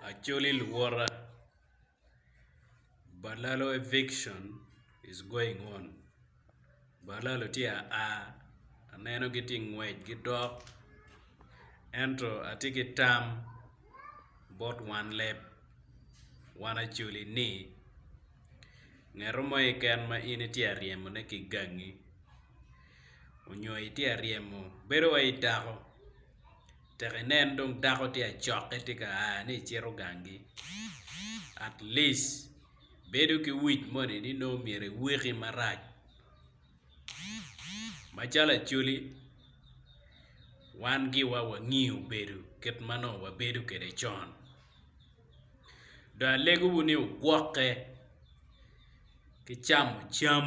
Acholi luwota balalo eviction is going on balalo tye aa aneno gitye ngwec gidok ento atye ki tam bot wan leb wan Acholi ni ngeto mo keken ma in itye ka ryemo ne ki gangi onyo itye ka ryemo bedo wai idako. tek inen dong dako tye acokke tye ka aa ni ecito gangi at least bedo ki wic moni ni nongo myero iwiki marac macalo acholi wan giwa wangiyo bedo kit ma nongo wabedo kwede con dong alegowu ni ogwokke ki camo cam.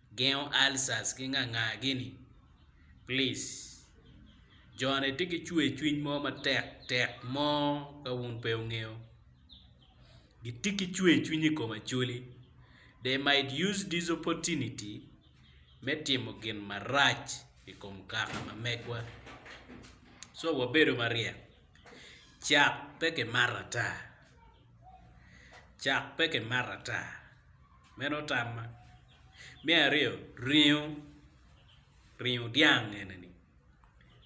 Gengo ulcers ki nganga gini please. Jone tye ki cwer cwiny mo matek tek mo ka wun pe wungeyo. Gitye ki cwer cwiny i kom Acholi. They might use this opportunity me timo gin marac i kom kaka ma megwa. So wabedo maryek. Cak pe kimato ata. Cak pe kimato ata. Meno tamma. Me aryo ringo, ringo dyang eni-ni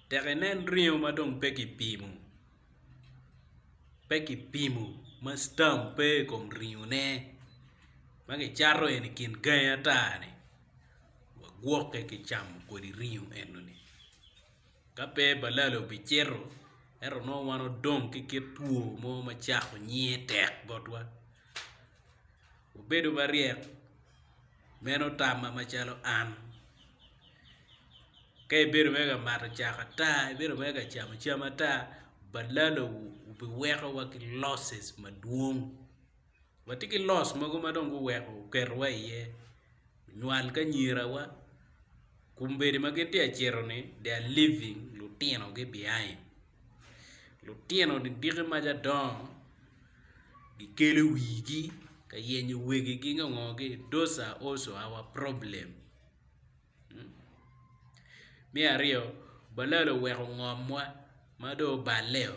tek inen ringo ma dong pe kipimo pe kipimo ma citam pe i kom ringone ma kicato eni i kin gangi ata-ni wagwokke ki camo kwede ringo eno-ni ka pe balala obicito ento nongo wan odong ki kit two mo macako nyiye tek botwa. Wubedo maryek, meno tamma macalo an. Ka ibedo mere ka mato cak ata, ibedo mere ka camo cam ata, balalowu obiweko wa ki losses madwong. Watye ki loss mogo ma dong guweko guketowa iye. nywal ki anyirawa, kombeddi ma gitye ka cito-ni they are leaving lutinogi behind, lutino diki ma ca dongo gikelo wigi ka yenyo wegigi nge ngo gi those are also our problem, me aryo balala oweko ngomwa ma dong oballe-o.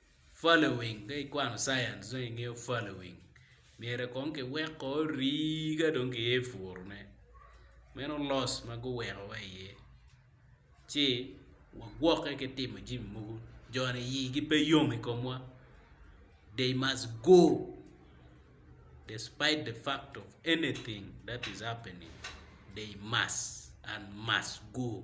Following, Ka ikwano Science dong ingeyo following, myero kong kiweko orii ka dong kiye i puru ne. Meno loss ma guweko wa iye ci wagwoke ki timo jami mogo joni ii gi pe yom i komwa they must go despite the fact of anything that is happening they must and must go.